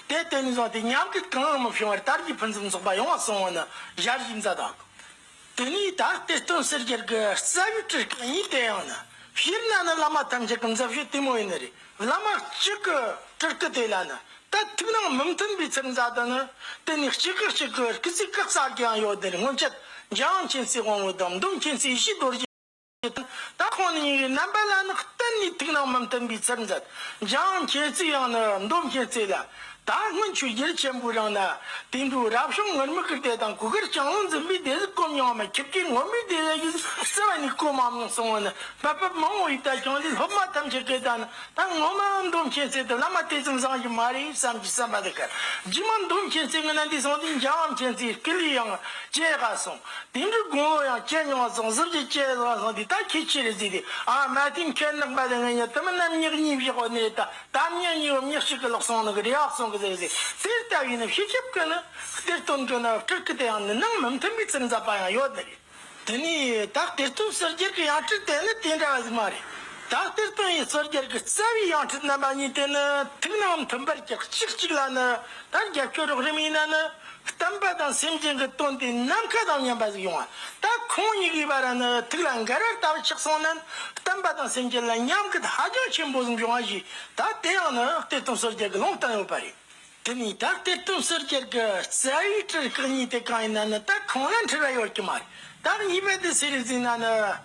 Speaker 1: དེ་དེ་ནས་བཟུང་སྟེ་ཉམས་རྒུད་གང་ཡང་མི་བྱུང་བར་དར་གྱི་ཕུན་སུམ་ཚོགས་པ་ཡོང་བར་གསུང་བ་ནི་ཞབས་ཕྱི་མཛད་དང། དེ་ནས་ད་ལྟའི་སྟོན་སེར་རྒྱལ་གྱི་རྩ་བའི་དྲིལ་བསྐྱེད་གཉིས་དེ་ཡང་ནི་བཞིར་ན་ནི་བླ་མ་ཐམས་ཅད་ཀྱི་མཛད་བཞུད་དེ་མོ་ཡིན་ནི་རེད་བླ་མ་གཅིག་གི་དྲིལ་བསྐྱེད་དེ་ལ་ནི་དད་ཐུགས་ནང་མི་མཐུན་པའི་ཚིག་མཛད་དུ་ནི་དེ་ནས་གཅིག་གི་གཅིག་གི་རྐུ་ཚིག་གི་རྩ་གི་ཡང་ཡོད་དེ་ནི་སྔོན་ཆད་འཇམ་མཁྱེན་བརྩེའི་དབང་བོའི་དམ་སྡོམ་མཁྱེན་བརྩེའི་ཡེ་ཤེས་རྡོ་རྗེ། ད་ཁོང་ནི་ཉིན་རེའི་རྣམ་པ་ལ་ནི་གཏན་ནས་ཐུགས་སྣང་མི་བསྟན་པའི་ཚུལ་མཛད། འཇང་མཁྱེན་བརྩེ་ཡང་ནི་མདོ་མཁྱེན་བརྩེ་ལ། ད་སྔོན་ཆོས་རྒྱལ་ཆེན་པོའི་རིང་ནི། དེང་དུས་རབ་བྱུང་ངུར་སྨྲིག་གི་སྡེ་དང་གུ་གེར་ལྕང་ལོ་འཛིན་པའི་སྡེ་ཟིག་སྐོམ་ཡང་མི་ཁྱེར་གི་ངོམས་པའི་སྡེ་ལ་ཡིད་བརྩེ་བ་ནི་སྐོམ་མམ་ཡང་གསང་བ་ནི་བག་ཕེབས་མང་བོ་ཡིས་ད་ཀྱང་ལས་སློབ་མ་ཐམས་ཅད་སྐད་བརྡ་ནི་ད་ངོ་མ་མདོ་མཁྱེན་བརྩེ་དེ་བླ་མ་དེ་ཙམ་བཟང་གི་མ་རེད་བསམ་གྱི་བསམ་པ་འདི་གར་རྗེས་མ་མདོ་མཁྱེན་བརྩེ་ངི་ན་འདས་སོང་དུས་འཇང་མཁྱེན་བརྩེའི་སྐུ་ལུས་ཡང་བཅད་དགའ་སོང། དེང་གི་དགུང་ལོ་ཡང་བསྐྱལ་མྱོང་བ་ཟང་ཟིང་གི་སྐྱེས་བཟང་ལྷག་འདི་ད་ཁྱེད་ཆེ་རེད་ཟེར་ཏེ་ཨ་མ་དེ་མཁལ་ནག་པ་དེ་ངའི་ཉལ་ཐུ་མི་རྣམ་གཉིས་ཀྱི་གཉིད་བཞག་པ་ནི་རེད་ད་དམ་ཉལ་གཉིས་བམ་ཉལ་གཅིག་གི་ལག་ཟུང་ནང་གི་རེ་ཨག་ཟུང་གི་ཟེར་ཏེ་དེ་ལྟ་བུའི་ནམ་ཞིག་ཞིབ་ཀི་ནི་གཏེར་སྟོན་གྱོན་ན་སྤྲུལ་སྐུ་དེ་ཡང་ནི་ནང་མི་མཐུན་པའི་ཚིག་འཛབ་པ་ཡང་ཡོད་ནི་རེད། དེ་ནི་དག་གཏེར་སྟོན་གསོལ་རྒྱལ་གྱི་ཡང་ཁྲིད་དེ་ནི་དེ་འདྲ་བ་ཞིག་མ་རེད། དག་གཏེར་སྟོན་ཡིས་གསོལ་རྒྱལ་གྱི་རྩ་བའི་ཡང་ཁྲིད་རྣམ་པ་གཉིས་དེ་ནི་ཐུགས་ནང་མི་མཐུན་པར་གྱི་གཅིག་གཅིག་ལ་ནི་ད་རྒྱབ་སྐྱོར་རོགས་རིམ་ཡིན་ན་ནི་གཏམ་པ་དང་སེམས་ཅན་གྱི་དོན་དུ་ནམ་མཁའ་དང་མཉམ་པ་ཞིག་ཡོང་བ་ད་ཁོང་གཉིས་ཀྱི་བར་ན་ཐུགས་ལ་འགལ་བར་ལྟ་བུ་ཆགས་སོང་ན་གཏམ་པ་དང་སེམས་ཅན་ལ་མཉམ་རྒུད་ཧ་ཅང་ཆེན་པོ་ཞིག་འབྱུང་བ་ཞིག་ད་དེ་ཡང་ནི་གཏེར་སྟོན་ཟུར་བརྒྱད་ཀྱི་ལུང་སྟོན་ཡོད་པ་རེད། དེ་ནས་ད་གཏེར་སྟོན་ཟུར་བརྒྱད་ཀྱི་རྩ་བའི་གྲུ་གཉིས་དེ་གང་ཡིན་ན་ནི་ད་ཁོང་ལ་འཁྲུལ་བ་ཡོད་ཀྱི་མ་རེད་ད་གཉིས་པ་དེ་ཟེར་བའི་རྫུན་ན་ནི།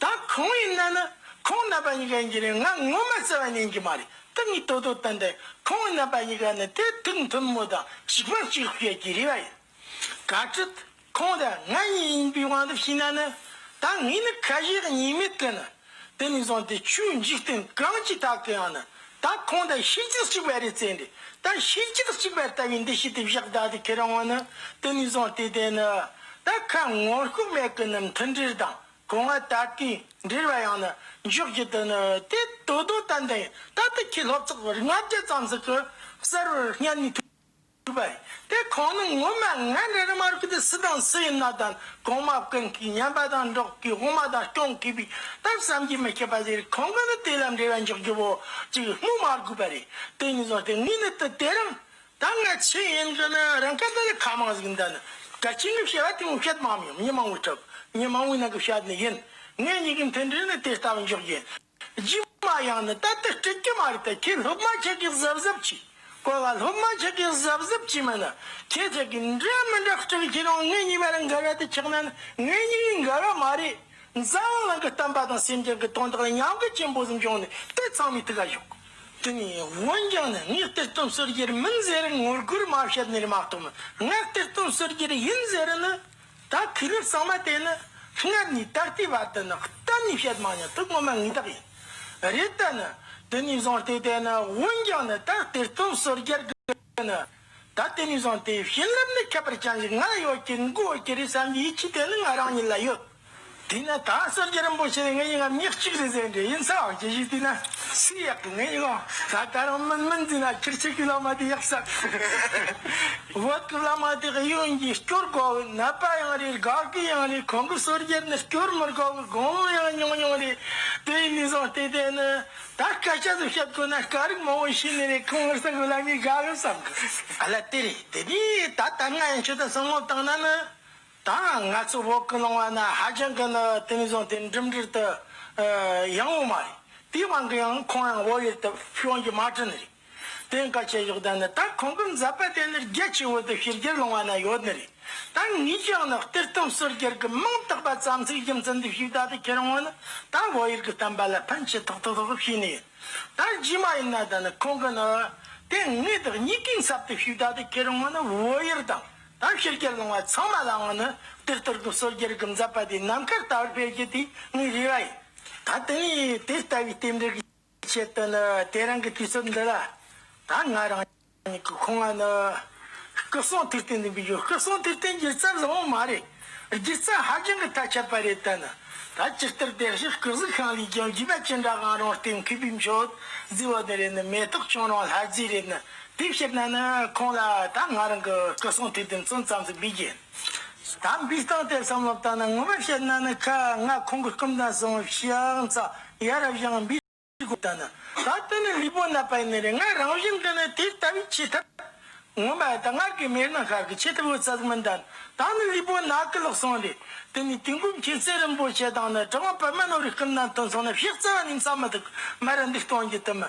Speaker 1: ད་ཁོང་ཡིན་ན་ནི་ཁོང་རྣམ་པ་གཉིས་ཀ་ཡིན་གྱི་རེད་ང་ངོ་མ་བརྩེ་བ་ཉན་གྱི་མ་རེད་ཏུ་ངས་དོ་དོ་བསྟན་ཏེ་ཁོང་རྣམ་པ་གཉིས་ཀ་ནི་དེ་ཐུགས་མཐུན་མོ་དང་གཅིག་པ་གཅིག་ལ་སྐྱེལ་གྱི་རེད་བ་ཡིན། ག་ཁྲིད། ཁོང་དང་ང་གཉིས་ཡིན་པའི་དབང་དུ་ཕྱིན་ན་ནི། ད་ངས་ནི་ཁ་ཞེ་གཉིས་མེད་དུ་ནི། དེ་ནས་བཟུང་སྟེ་ཆོས་འཇིག་རྟེན་གང་གི་ཐག་གི་ཡང་ནི་ད་ཁོང་དང་ཤེས་རྒྱུད་གཅིག་པ་རེད་བརྩེ་འདི་ད་ཤེས་རྒྱུད་གཅིག་པ་ལྟ་བུའི་འདི་ཤེས་དེ་བཞག་བདག་དེ་ཁེ་རང་ངོ་ནི་དེ་ནས་བཟུང་སྟེ་དེ་ནི། ད་ཁ་ངོ་ཤུགས་མེད་གི་ནི་མཐུན་སྒྲིལ་དང་གོང་མ་ད་ལྟའི་འབྲེལ་བ་ཡང་ནི་འཇོག་རྒྱུ་དེ་ནི་དེ་དོ་དོ་ད་འདི་ད་ལྟ་ཁྱེད་སློབ་ཚོགས་བར་ལྔ་བརྒྱ་ཙམ་ཟིག་གི་གསར་བར་སྙན་ནས་ཐུག་པ་རེད་དེ་ཁོང་ནི་ངོ་མ་ང་འདྲ་རི་མར་གུས་ཏེ་སུ་དང་སུ་ཡིན་ན་དང་གོང་མ་ཀུན་གྱིས་སྙན་པ་དང་འགྲོགས་གིས་དབུ་མ་དང་སྐྱོང་དགོས་པའི་སྟབས་བསམ་གྱིས་མི་ཁྱབ་པ་ཟེར་རིགས་ཁོང་གི་ནི་དེ་ལ་འབྲེལ་བ་འཇོག་རྒྱུ་བོ་གཅིག་སྨོས་མ་དགོས་པ་རེད་དེ་གཉིས་སོང་སྟེ་ངས་ནི་དེ་དེ་རིང་ད་ང་ཚོས་ཡིན་རྒྱུ་ནི་རང་སྐད་དང་ལས་ཁ་མང་ཟིག་འདི་ནི་གལ་ཆེན་གྱི་བྱ་བ་དེ་མིན་ཁྱེད་མང་མི་ཡོང་མི་མང་བོའི་ཁྲོད་མི་མང་བོའི་ནང་གི་བྱ་བ་ནི་ཡིན། ངེད་གཉིས་ཀྱི་མཐུན་འབྲེལ་ནི་དེ་ལྟ་བུ་འཇོག་རྒྱུ་རྗེས་མ་ཡང་ནི་ད་ལྟ་སྤྲད་ཀྱི་མ་རེད་དེ་ཁྱེད་སློབ་མ་ཁྱེད་ཀྱིས་གཟབ་གཟབ་བྱས་དགོས་ལ་སློབ་མ་ཁྱེད་ཀྱིས་གཟབ་གཟབ་བྱས་མིན་ནི་ཁྱེད་ཅག་གིས་འདྲ་མི་འདྲ་སྤྲད་ཀྱི་རང་ངེད་གཉིས་བར་འགལ་བ་དེ་ཆགས་ན་ནི་ངེད་གཉིས་ཀྱི་འགལ་བ་མ་རེད། རྫ་དབང་ལང་གི་གཏམ་པ་དང་སེམས་ཅན་གྱི་དོན་དག་ལ་མཉམ་འགུལ་ཆེན་པོ་ཟིན་བྱུང་ནས་དེ་ཚང་མའི་ཐུགས་ཀ་ཞོག། དེ་ནས་བོད་ལྗོངས་ནི་སྔགས་གཏེར་སྟོན་ཟུར་རྒྱལ་མིན་ཟེར་ངོ་རྒོལ་མ་བྱེད་ནི་མ་གཏོགས་སྔགས་གཏེར་སྟོན་ཟུར་རྒྱལ་ཡིན་ཟེར་ནི་ད་དུས་རབས་གསང་མ་དེ་ནི་སྔར་ནས་ད་ལྟའི་བར་དུ་ནི་གཏན་ནས་བཤད་མ་མྱོང་ཐུགས་ངོ་མ་ངེས་རྟགས་ཡིན་རེད་ད་ནི་དེ་ནས་བཟུང་སྟེ་དེ་ནི་བོད་ལྗོངས་ནི་ད་གཏེར་སྟོན་ཟུར་རྒྱལ་གྱི། དེ་ནི། ད་ལྟའི་ནས་བཟུང་སྟེ་བྱིན་རླབས་ནི་ཁྱད་པར་ཅན་ཞིག་ང་ལ་ཡོད་ཀྱི་མགུ་འོས་ཀྱི་རེད་བསམ་པའི་ཡིད་ཆེས་དེ་ནི་ང་རང་ཉིད་ལ་ཡོད། དེས་ན་ད་གསོལ་རྒྱལ་རིན་པོ་ཆེ་ནི་ངའི་ཡིད་ངར་མྱི་གཅིག་རེད་ཟེར་འདྲའི་ཡིན་ས་འོག་ཅི་ཞིག་བལྟས་ན་སུའི་ཡག་གི་ངའི་ཡིད་འོང་ད་ད་རང་མིན་མིན་བརྩིས་ན་ཁྱེད་ཆེ་གེའི་བླ་མ་དེ་ཡག་ས་རེད། བོད་ཀྱི་བླ་མ་དེ་ཨུ་ཡོན་གྱིས་སྐྱོར་དགོས་བའི་ནད་པ་ཡང་རེད་དགའ་གི་ཡང་རེད་ཁོང་གི་གསོལ་རྒྱལ་ནི་སྐྱོར་མི་དགོས་བའི་དགོངས་མོ་ཡང་ཉུང་ཉུང་རེད་དེའི་ནས་བཟུང་སྟེ་དེ་ནི། ད་སྐད་ཆ་དེ་བཤད་དགོས་ན་སྐད་རིགས་མང་བོ་ཤེས་ནི་རེད་ཁོང་ངར་ས་གོ་ལ་མི་དགའ་གི་བསམ་གི་རེད། ཨ་ལ་དེ་རེད་དེ་རེད་ད་ད་ང་ཡང་ཁྱེད་དང་བསམ་བློ་བཏང་ན་ནི། ད་ང་ཚོ་བོད་གི་ནང་བ་ན་ཧ་ཅང་གི་ནི་དེ་མི་བཟང་དེ་འགྲིམ་འགྲུལ་དུ་ཡང་འོང་མ་རེད་དེའི་དབང་གི་ཡང་ཁོང་ཡང་བོད་ཡུལ་དུ་ཕྱོན་རྒྱུ་མ་བྲི་ནི་རེད། དེ་འགའ་བྱེད་ཞོག་ད་ནི་ད་ཁོང་གི་མཛད་པ་དེ་ནི་རྒྱལ་སྤྱིའི་འོད་དུ་ཕྱི་རྒྱལ་ལུང་བ་ན་ཡོད་ནི་རེད་ད་ངས་ཀྱང་ནི་གཏེར་སྟོན་ཟུར་རྒྱལ་གྱི་མིང་བཏགས་པ་ཙམ་ཚིག་རྒྱུ་མཚན་འདི་ཞིག་ད་ལྟ་ཁྱེད་རང་ངོ་ནི་ད་བོད་ཡིག་གི་གཏམ་པ་ལ་ཕན་ཆེ་ཐོག་ཐོག་ཐོག་གི་ཤེས་ནི་ཡོད་ད་རྗེས་མ་ཡིན་ན་ད་ནི་ཁོང་གི་ནི་དེ་ངས་དག་ཉིད་གིས་མཚབ་དེ་ཞིག་ད་ལྟ་ཁྱེད་རང་ངོ་ནི་བོད་ཡིག་དང་ད་ཕྱི་རྒྱལ་ལུང་བ་ཚང་མ་ལའང་ནི་གཏེར་སྟོན་གྱི་ཟུར་རྒྱལ་གྱི་མཛད་པ་དེ་ནམ་མཁར་ལྟ་བུར་སྤེལ་རྒྱུ་དེ་ངའི་རེ་བ་ཡིན་ད་དེ་ནས་དེ་ལྟ་བུའི་རྟེན་འབྲེལ་གྱི། ཅེས་པས་ནི་དེ་རང་གི་དུས་ཚོད་འདི་ལ་ད་ང་རང་ཉིད་ཀྱི་ཁོ་ང་ནི་སྐུ་གསུང་ཐུགས་རྟེན་འཛིན་པའི་ཡུལ་སྐུ་གསུང་ཐུགས་རྟེན་སྒྱུ་རྩལ་བཟང་བོ་མ་རེད་སྒྱུ་རྩལ་ཧ་ཅང་གི་ཐལ་ཆ་པ་རེད་ད་ནི་ད་སྤྱི་ལྟར་བདེ་གཤེགས་སྐུ་གཟུགས་ཤིང་ལས་ཀྱང་བརྒྱུད་པ་ཅི་འདྲ་གང་རུང་ལྟེབ་མཁས་པའི་མཆོད་རྫས་བ་དེ་རེད་ནི་མེ་ཏོག་ཁྱུང་རང་ལྷ་རྫས་རེད་ནི་དེ་བཤད་ན་ནི་ཁོང་ལ་ད་ང་རང་གི་སྐུ་གསུང་ཐུགས་རྟེན་བཙོན་ཙམ་ཟིན་པའི་རྒྱན། དམ་པའི་སྟངས་དེ་བསམ་བློ་བཏང་ན་ངོ་མ་བཤད་ན་ནི་ཁ་ང་ཁོང་གི་སྐུ་མདང་སྲུང་བའི་ཤིང་རྩ་ཡ་རབས་ཞིང་འབའི་སྒོ་ད་ནི་ད་ལྟ་ནི་ལུས་པོ་ན་པའི་ནི་རེད་ང་རང་བཞིན་གི་ནི་དེ་ལྟ་བུའི་ཆེ་ཐབས་ངོ་མ་ད་སྔར་གི་མེད་ན་ཤར་གི་ཆེ་ཐབས་འོད་གསལ་མི་འདྲ་ནི་ད་ནི་ལུས་པོ་ན་ཀི་ལག་སྲུང་རེད་དེ་ནི་དུས་འགོམ་ཁྱེད་ཚེ་རིང་པོ་བྱེད་དང་ནི་དྲང་བ་པདྨ་ནོར་བའི་སྐུ་མདང་དུ་སོང་ན་ཕྱག་རྩ་བ་ནི་མཚམས་མི་ཐུག་མར་འདུག་སྟོང་རྒྱུད་དུ་མི།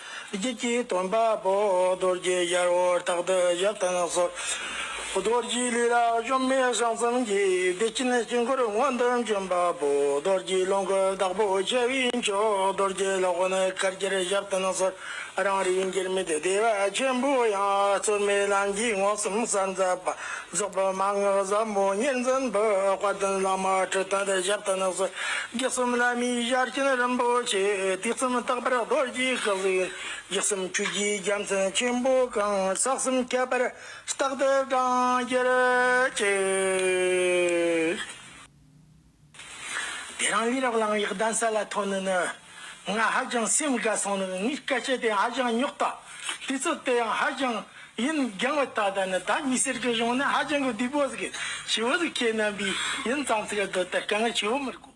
Speaker 1: རྒྱུད་ཀྱི་སྟོན་པ་པོ་རྡོ་རྗེ་གཡར་བོ་རྟག་ཏུ་བཞད་དུ་གསོལ། རྡོ་རྗེའི་ལུས་ལ་གཞོམ་མེད་བྱང་སེམས་ཀྱི་བདེ་སྐྱིད་དཀྱིལ་འཁོར་མངོན་དུ་འབྱོན་པ་པོ་རྡོ་རྗེའི་ལོངས་སྐུ་བདག་པོ་རྒྱལ་བའི་མཆོག་རྡོ་རྗེ་ལྷ་ཀོན་དཀར་གྱིར་བཞད་དུ་གསོལ། རང་རིག་འགྱུར་མེད་བདེ་བ་ཆེན་པོ་ཡང་རྩོལ་མེད་ལམ་གྱིས་མངོན་སུམ་གསལ་མཛད་པ། རྫོགས་པའི་མ་ངག་ཟབ་མོ་གཉིས་འཛིན་པའི་དཔལ་ལྡན་བླ་མ་ཁྲི་སྟོན་པའི་ཞབས་ལྟ་ནགས་སུ་རྒྱུད་གསུམ་བླ་མའི་ཞལ་སྐྱིན་རིན་པོ་ཆེ་དུས་གསུམ་རྟག་པར་རྡོ་རྗེའི་སྐུ་གཟུགས་ཡིན་རྒྱུད་གསུམ་ཆོས་རྒྱུད་རྒྱལ་མཚན་ཆེན་པོ་གང་ཟག་གསུམ་ཁྱད་པར་རྟག་ཏུ་བགྲང་གྱུར་ཅིག། དེ་རིང་ལུས་རག་ལངས་ཡག་གདན་ས་ལ་ཐོན་ནི་ནི། ང་ཧ་ཅང་སེམས་དགའ་སོང་ནི་ངའི་སྐད་ཆ་དེ་ཧ་ཅང་རྙོག་དྲ་དེ་ཚོ་དེ་ཡང་ཧ་ཅང་ཡིན་རྒྱང་བ་ད་ལྟ་ནི་ད་མི་སེར་གྱི་གཞུང་ནི་ཧ་ཅང་གི་བདུད་པོ་ཟིག་ཆུ་བོ་ཟིག་ཁྱེད་རྣམ་པའི་ཡིན་ཙང་ཚིག་གདོད་ད་དཀའ་ངལ་ཆུ་བོ་མི་རྒོད།